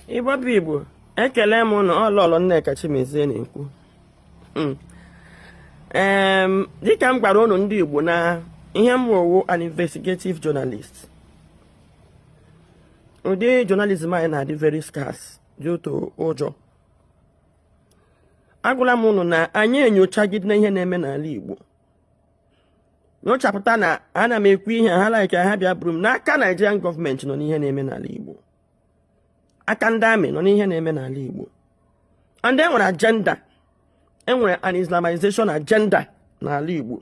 igbo bụ igbo ekele m ụnụ ọ lọlọ nneka chimezie na-ekwu hmm. dịka m gwara ụnụ ndị igbo na ihe mụwa wụ an investigative journalist ụdị journalism anyị na-adị very scarce due to ụjọ agwala m ụnụ na anyị enyochagide na ihe na-eme n'ala igbo nyochapụta na ana m ekwu ihe a ha like ha bịa buru m na aka Nigerian gọọmenti nọ n'ihe na-eme n'ala Igbo aka ndị amị nọ n'ihe na-eme n'ala Igbo and e nwere agenda enwere an Islamization agenda n'ala Igbo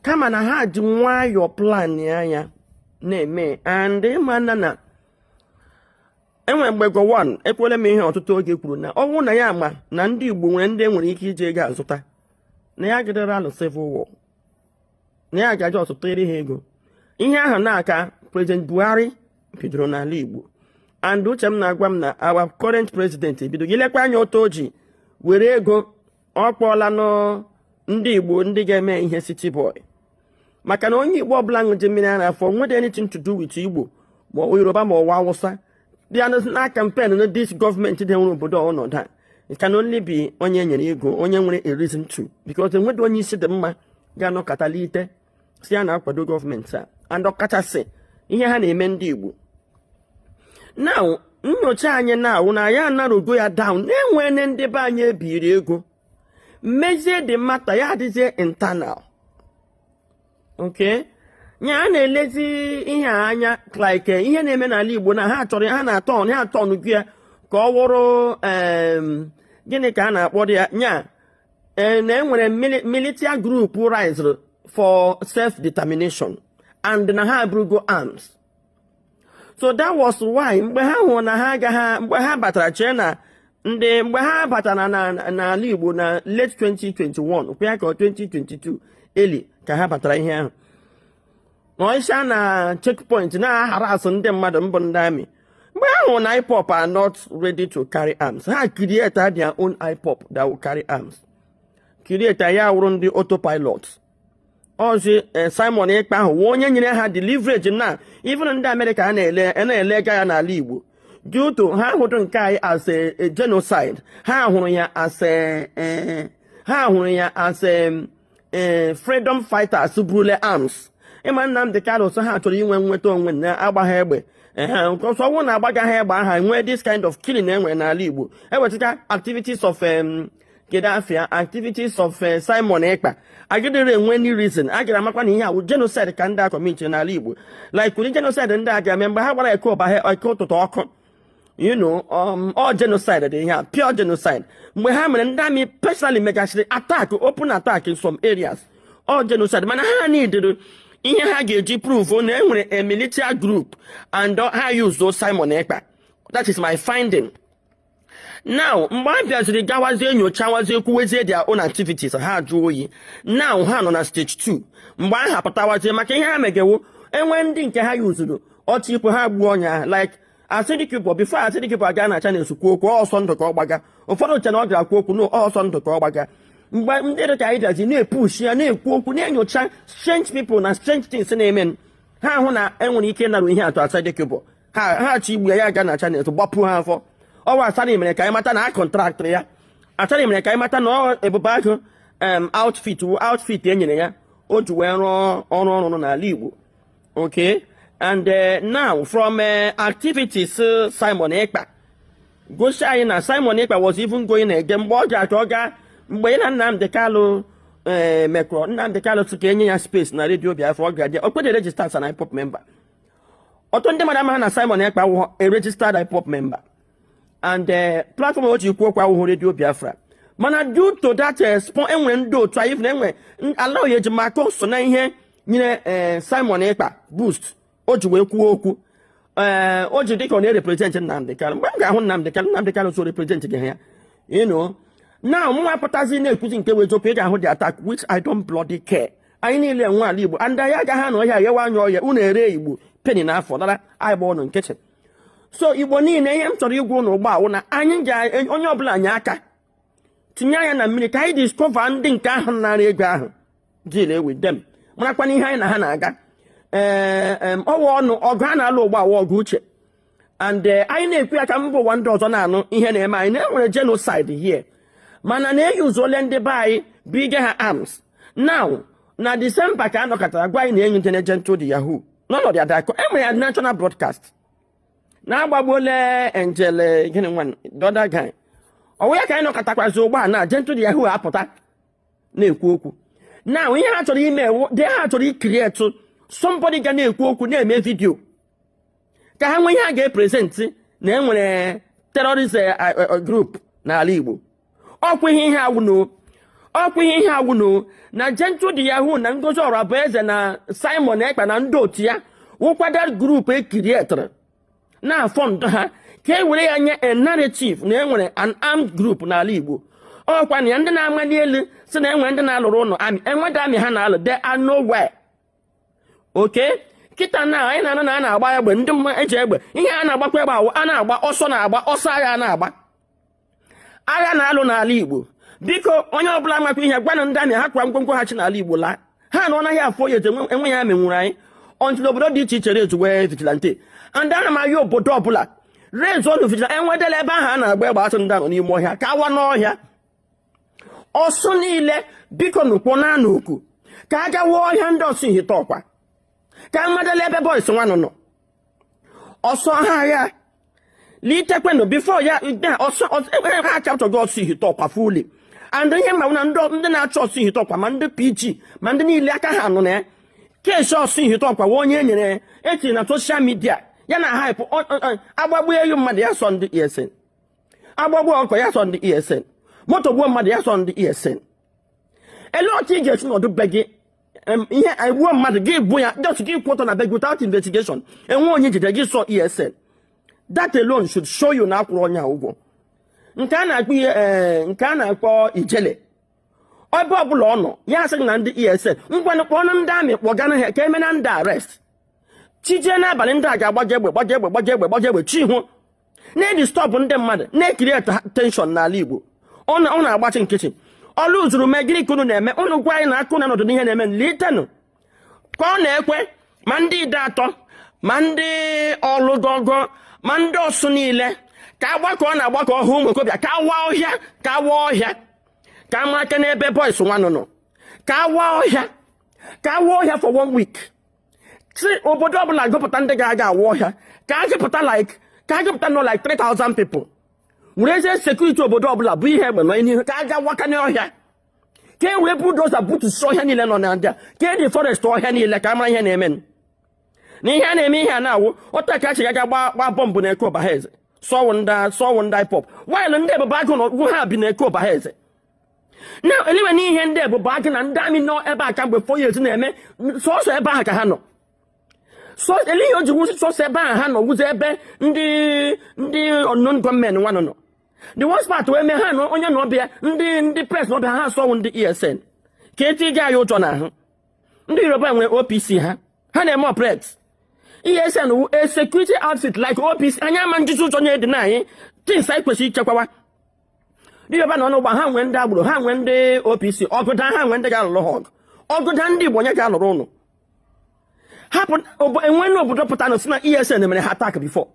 kama na ha ji nwayọọ plan ya na-eme and ị mana na e nwere mgbe gowon ekwuola m ihe a ọtụtụ oge kwuru na ọ wụ na ya ma na ndị Igbo nwere ndị enwere ike iji ego azụta na ya agaraghị alụ civil war na ya ja just tụnyere ha ego ihe ahụ ka prezident buhari bidoro n'ala igbo and uche m na-agwa m na our current president bidoro i lekwa anya otu o ji were ego ọ kpọọla ndị igbo ndị ga-eme ihe city boy maka na onye igbo ọbụla ṅụji mmiri ara afọ enwedu anything to do with igbo ma yoruba ma ọ wụ awụsa bịa na campaign na this gọọmenti dewere obodo n'ọnọdụ a can only be onye e nyere ego onye nwere a reason to because enweghị onye isi dị mma ga-anọkata lite sị ya na-akwado gọọmenti a and ọkachasị ihe ha na-eme ndị Igbo na nyocha anyị na-awụ na anyị anarrowgo ya down na e nwere ndị be anyị ebiri ego mezie the matter ya adịzie internal okay ya a na-elezi ihe a anya like ihe na-eme n'ala Igbo na ha chọrọ ha aturngo ya ka ọ wụrụ gịnị ka a na-akpọ ya nya e, na enwere militia group rise for self determination and na ha eburugo arms so that was why mgbe ha hụrụ na ha agaghị mgbe ha batara chee na ndị mgbe ha batara n'ala Igbo na late 2021 kwa ya ka 2022 early ka ha batara ihe ahụ wee si na checkpoint na-aharass ndị mmadụ bụ ndị amị mgbe ha hụ na IPOP are not ready to carry arms ha create their own IPOP that will carry arms create ya wụrụ ndị autopilot ọ zị eh, Simon Ekpa ahụ wụ onye nyere ha the leverage na even ndị Amerịka na-ele na-eleghara anya n'ala Igbo due to ha ahụdụ nke anyị as a genocide ha hụrụ ya as a eh, ha hụrụ ya as a eh, freedom fighters buru arms ị ma Nnamdi Kanu so ha chọrọ inwe inweta onwe na agbaghị egbe nke ọsọ ọ wụ na agbaghị egbe aha enwe this kind of killing enwere n'ala Igbo ewezuga activities of kedu afia activities of eh, Simon Ekpa agidere enwe any reason a gara amakwa na ihe a wụ genocide ka ndị a commit n'ala Igbo like ụdị genocide ndị a ga-eme mgbe ha gbara eke ụba ha Eke Ụtụtụ ọkụ you know um, ọ wụ genocide dị ihe a pure genocide mgbe ha mere ndị army personally megachiri attack open attack in some areas ọ wụ genocide mana ha needịrị ihe ha ga-eji prove na e nwere a military group and ha use Simon Ekpa that is my finding now mgbe a bịaziri gawazie nyocha wazie kwuwezie their own activities ha jụọ oyi now ha nọ na stage 2 mgbe a ha pụtawazie maka ihe ha mega wụ e nwere ndị nke ha yuzuru ọchị ikwe ha gbuo onye like Asari Dokubo before Asari Dokubo aga na Channels kwuo okwu ọsọ ndụ ka ọ gbaga ụfọdụ chee na ọ gara kwuo okwu na ọsọ ndụ ka ọ gbaga mgbe ndị dị ka anyị bịazi na-epushi ya na-ekwu okwu na-enyocha strange people na strange things na-eme ha hụ na e nwere ike ịnarrow ihe a to Asari Dokubo ha ha achọ igbu ya ya aga na Channels gbapụ ha afọ ọ wụ Asari mere ka anyị mata na a kọntraktịrị ya Asari mere ka anyị mata na ọ Ebube Agụ em outfit wụ outfit e nyere ya o ji wee rụọ ọrụ ọrụ n'ala Igbo okay and eh, now from eh, activities eh, Simon Ekpa gosi anyị na Simon Ekpa was even going ege mgbe ọ ga-achọ ọ gaa mgbe ya na Nnamdị Kanụ ee mekọrọ Nnamdị Kanụ sị ka e nye ya space na redio Biafra ọ ga-adị o kwedị register as an IPOB member ọtụtụ ndị mmadụ amaghị na Simon Ekpa awụghọ a registered IPOB member and eh, platform o ji kwuo okwu awụghọ redio Biafra mana due to that eh, spon e nwere ndị otu anyị na enwe ala oyi eji maka so na ihe nyere eh, Simon Ekpa boost o ji wee kwuo okwu ee o ji dịka ọ na-ereprezentị Nnamdị Kanụ mgbe m ga-ahụ Nnamdị Kanụ Nnamdị Kanụ sị ọ reprezentịghị ya ị nụ na mụnwa pụtazi na-ekwuzi nke wụ eziokwu ị ga-ahụ the attack which I don't bloody care anyị niile nwe ala Igbo and anyị agaghị anọ ọhịa ghewa anya oghe unu ere Igbo peni n'afọ dara anyị gba ụnụ nkịtị so Igbo niile ihe m chọrọ ịgwa ụnụ ugbu a wụ na anyị ga onye ọbụla enye aka tinye anya na mmiri ka anyị discover ndị nke ahụ naara ego ahụ deal with them marakwana ihe anyị na ha na-aga ee ọwa ọnụ ọgụ a na-alụ ugbu a wụ ọgụ uche and eh, anyị na-ekwu ya ka mba ụwa ndị ọzọ na-anụ ihe na-eme anyị na e nwere genocide here mana na e yuzuola ndị be anyị bunye ha arms now na December ka a nọkatara gwa anyị na enyi ndị na Gentle De Yahoo n'ọnọdụ adakọ e mere ya national broadcast na agbagbuola Angel eh, gịnị nwa the other guy ọ wụ ya ka anyị nọkatakwazi ugbu a na Gentle De Yahoo apụta na-ekwu okwu na ihe ha chọrọ ime wụ that ha chọrọ ịcreate somebody ga na-ekwu okwu na-eme vidio ka ha nwee ihe a ga-eprezentị na e nwere terọrist eh, eh, eh, grup n'ala Igbo ọkwa ihe ihe a wụ nụ ọkwa ihe ihe a wụ nụ na Gentle de Yahoo na Ngozi Orabueze na Simon Ekpa na ndị otu ya wụkwada grup e kirietara na-afọndụ ha ka e were ya nye a narrative na e nwere an armed group n'ala Igbo ọ wụkwanụ ya ndị na-amali elu sị na e nwere ndị na-alụrụ unu amị enweda amị ha na-alụ de are okay kịta na anyị na-anụ na a na-agba egbe ndị mma eji egbe ihe a na-agbakwa egbe awụ a na-agba ọsọ na-agba ọsọ agha a na-agba agha a na-alụ n'ala Igbo biko onye ọbụla makwa ihe gwanụ ndị amị ha kwa ngwongwo ha si n'ala Igbo laa ha na ọ naghị afọ ya eji enwe ya menwuru anyị until obodo dị iche iche rezu wee vigilante ndị ana m ahịa obodo ọbụla rezu own vigilante enwedela ebe ahụ a na-agba egbe a sị ndị a nọ n'ime ọhịa ka a waa n'ọhịa ọsụ niile biko nụkwụ na anụ oku ka a gawa ọhịa ndị ọsụ ihite ụkwa ka a madala ebe bọịs nwanụ nọ ọsọ ha agha litekwenụ bifo ya ha chapụtago ọsụ ihite ụkwa fuli and ihe mmanwụ na ndị na-achọ ọsụ ihite ụkwa ma ndị pg ma ndị niile aka ha nọ na ya kesi ọsụ ihite ụkwa wee onye e nyere ya etiri na soshal midia ya na-ahaịpụ agbagbuo ewu mmadụ ya sọ ndị ESN agbagbuo ọkụkọ ya sọ ndị ESN moto gbuo mmadụ ya sọ ndị ESN olee otu ị ga-esi nọdụ be gị ihe egbuo mmadụ gị gbuo ya just gị kwụ ọtọ na be gị without investigation enwe onye jide gị sọ ESN that alone should show you na a kwụrụ onye ụgwọ nke a na-akpọ ihe eh, nke a na-akpọ Ijele ebe ọbụla ọ nọ ya asịghị na ndị ESN ngwanụ kpọọnụ ndị amị kpọganụ ha ka e meenụ ndị a arrest chi jie n'abalị ndị a ga-agbaje egbe gbaje egbe gbaje egbe gbaje egbe chi hoo na-edistọbụ ndị mmadụ na-ekiriet tenshọn n'ala Igbo unu agbachi nkịtị Ọlụ zuru mee gịnị ka unu na-eme unu gwa anyị na aka unu anọdụ n'ihe na-eme litenụ ka ọ na-ekwe ma ndị Ideatọ ma ndị ọlụgọgọ ma ndị ọsụ niile ka a gbakọọ unu agbakọọ ọha ụmụ okorobịa ka a waa ọhịa ka a waa ọhịa ka a makana ebe bọis nwanụ nọ ka a waa ọhịa ka a waa ọhịa for one week si obodo ọbụla gụpụta ndị ga-aga awa ọhịa ka a gụpụta like ka a gụpụta nụ like 3000 people were ezie sekuriti obodo ọbụla bụ ihe egbe nọ n'ihu ka a ga wakanye ọhịa ka e wee bulldozer butusi ọhịa niile nọ na ndị a ka e deforest ọhịa niile ka a mara ihe na-eme na ihe a na-eme ihe a na-awụ ọta ka a chịga ga gbaa bọmbụ na Eke Ụbahaeze sị ọ wụ ndị sị ọ wụ ndị IPOB waịlụ ndị Ebube Agụ na ha bi na Eke Ụbahaeze na elewe na ihe ndị Ebubeagu na ndị army nọ ebe a kamgbe four years na-eme sọsọ ebe ahụ ka ha nọ ele ihe o ji wụzị sọsọ ebe ahụ ha nọ wụzi ebe ndị ndị unknown gunmen nwa nọ nọ the worst part wee mee ha na onye na ọbịa ndị ndị press na ọbịa ha asị ọ wụ ndị esn ka etinye anyị ụjọ n'ahụ ndị yoruba nwere opc ha ha na-eme operate esn wu a security outfit like opc anyị ama njiji ụjọ na-edi na anyị things anyị kwesịrị ichekwawa dịbịaba na ọnụ ụgba ha nwee ndị agbero ha nwee ndị OPC ọgụ daa ha nwee ndị ga-alụrụ ha ọgụ ọgụ daa ndị Igbo onye ga-alụrụ ụnụ hapụ enwena obodo pụta na-asị na ESN mere ha attack before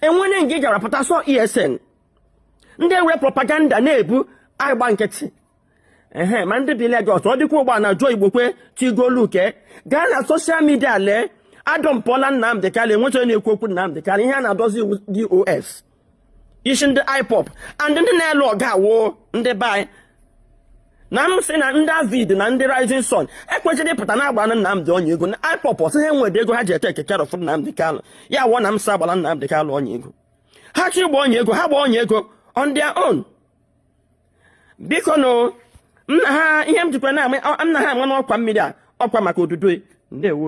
enwena nke ị gara pụta sọ ESN ndị ewe propaganda na-ebu agba nkịtị ehe ma ndị bi Lagos ọ dịkwa ụgbọ na Joe Igbokwe Tigoluke gaa na social media lee adọmpụọla Nnamdị Kanu enwechaghị na-ekwu okwu Nnamdị Kanu ihe a na-adọzi DOS isi ndị IPOB and ndị na-alụ ọgụ a wụ ndị be anyị na m sị na ndị AVID na ndị rising sun ekwesịrị ịpụta na-agbara Nnamdị onye ego na IPOB asị ha enwere ego ha ji etake care of Nnamdị Kanu ya wụọ na m sị agbara Nnamdị Kanu onye ego ha chọ ịgba onye ego ha gba onye ego on their own bikonụ nna ha ihe m jikwa na-ama nna ha ama n'ọkwa mmiri a ọkwa maka odudu ndewo